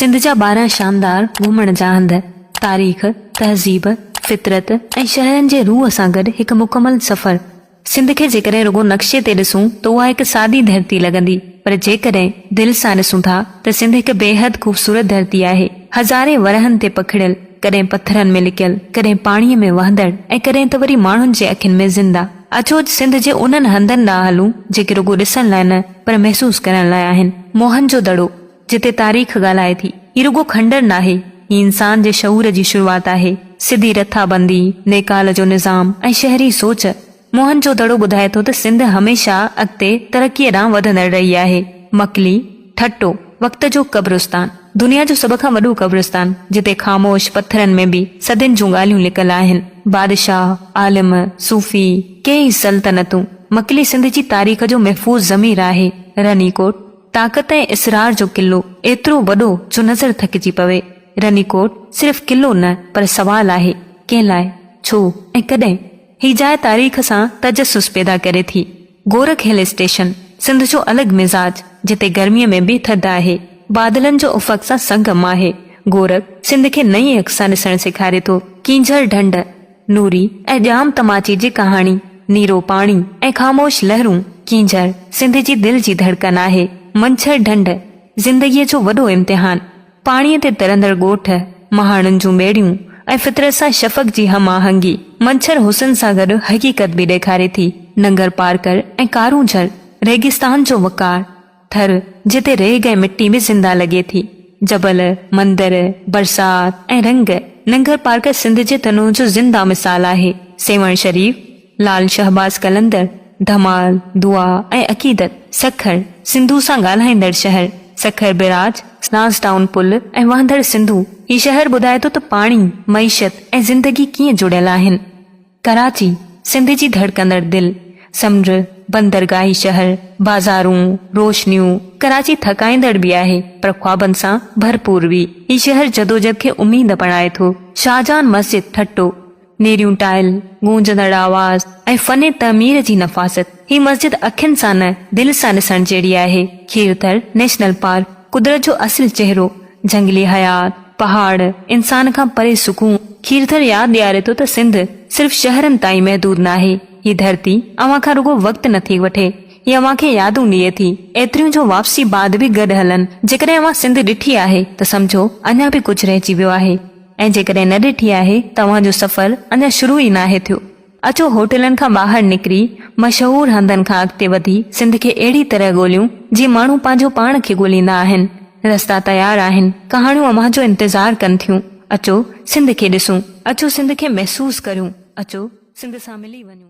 سنڌ جا ٻارهن شاندار گهمڻ جا هنڌ تاريخ، تهذيب، فطرت ۽ شهرن جي روح سان گڏ هڪ مڪمل سفر. سنڌ کي جيڪڏهن رڳو نقشي تي ڏسون ته اها هڪ سادي ڌرتي لڳندي پر جيڪڏهن دل سان ڏسون ٿا ته سنڌ هڪ بيحد خوبصورت ڌرتي آهي. هزارين ورهن تي پکڙيل، ڪڏهن پٿرن ۾ لڪيل، ڪڏهن پاڻيء ۾ وهندڙ ۽ ڪڏهن ته وري ماڻهن جي اکين ۾ زنده. اچو اڄ سنڌ جي انهن هنڌن ڏانهن هلون جيڪي رڳو ڏسڻ لاء نه پر محسوس ڪرڻ لاء آهن. موهن جو دڙو، جتي تاريخ ڳالهائي ٿي. هي رڳو کنڊر ناهي، هي انسان جي شعور جي شروعات آهي. سڌي رٿابندي، نيڪال جو نظام ۽ شهري سوچ. موهن جو دڙو ٻڌائي ٿو ته سنڌ هميشه اڳتي ترقيء ڏانهن وڌندڙ رهي آهي. مڪلي، ٺٽو، وقت جو قبرستان. دنيا جو سڀ کان وڏو قبرستان، جتي خاموش پٿرن ۾ به صدين جون ڳالهيون لڪل آهن. بادشاهه، عالم، صوفي، ڪيئي سلطنتون. مڪلي سنڌ جي تاريخ جو محفوظ ضمير آهي. رني ڪوٽ. طاقت ۽ اصرار جو قلعو ايترو وڏو جو نظر ٿڪجي پوي. رني ڪوٽ صرف قلعو نه پر سوال آهي، ڪنهن لاء؟ ڇو ۽ ڪڏهن؟ هي جاء تاريخ سان تجسس پيدا ڪري ٿي. گورک هل اسٽيشن، سنڌ جو الڳ مزاج، جتي گرميء ۾ به ٿڌ آهي، بادلن جو افق سان سنگم آهي. گورک سنڌ کي نئين اک سان ڏسڻ سيکاري ٿو. ڪينجهر ڍنڍ. نوري ۽ ڄام تماچي جي ڪهاڻي، نيرو پاڻي ۽ خاموش لهرون، ڪينجهر، سنڌ جي دل جي ڌڙڪن آهي، منڇر ڍنڍ، زندگيء جو وڏو امتحان، پاڻيء تي ترندڙ ڳوٺ، مهاڻن جون ٻيڙيون ۽ فطرت سان شفق جي هم آهنگي، منڇر حسن سان گڏ حقيقت به ڏيکاري ٿي، ننگر پار ڪر ۽ ڪارونجهر، ريگستان جو وقار. پٿر، جتي ريگ ۽ مٽي به زنده لڳي ٿي، جبل، مندر، برسات ۽ رنگ، ننگر پارڪر سنڌ جي تنوع جو زنده مثال آهي، سيوهڻ شريف، لعل شهباز قلندر، ڌمال، دعا ۽ عقيدت، سکر، سنڌو سان ڳالهائيندڙ شهر، سکر بئراج، لانس ڊائون پل ۽ وهندڙ سنڌو، هي شهر ٻڌائي ٿو ته پاڻي، معيشت ۽ زندگي ڪيئن جڙيل آهن. ڪراچي، سنڌ جي ڌڙڪندڙ دل، سمنڊ، بندرگاهي شهر، بازارون، روشنيون، ڪراچي ٿڪائيندڙ به آهي پر خوابن سان ڀرپور به. هي شهر جدوجھد کي اميد بڻائي ٿو. شاهجهان مسجد ٺٽو، نيريون ٽائل، گونجندڙ آواز ۽ فن تعمير جي نفاست. هي مسجد اکين سان نه، دل سان ڏسڻ جهڙي آهي. کيرٿر نيشنل پارڪ، قدرت جو اصل چهرو، جهنگلي حيات، پهاڙ، انسان کان پري سڪون، کيرٿر ياد ڏياري ٿو ته سنڌ صرف شهرن تائين محدود ناهي، هي ڌرتي اوهان کان رڳو وقت نٿي وٺي، هي اوهان کي يادون ڏئي ٿي، ايتريون جو واپسي بعد به گڏ هلن، جيڪڏهن اوهان سنڌ ڏٺي آهي ته سمجهو اڃا به ڪجهه رهجي ويو آهي ۽ جيڪڏهن نه ڏٺي آهي ته اوهان جو سفر اڃا شروع ئي ناهي ٿيو. اچو هوٽلن کان ٻاهر نڪري مشهور هنڌن کان اڳتي وڌي سنڌ کي اهڙي طرح ڳوليون جيئن ماڻهو پنهنجو پاڻ کي ڳوليندا آهن. رستا تيار آهن، ڪهاڻيون اوهان جو انتظار ڪن ٿيون. اچو سنڌ کي ڏسون. اچو سنڌ کي محسوس ڪريون. اچو سنڌ سان ملي وڃون.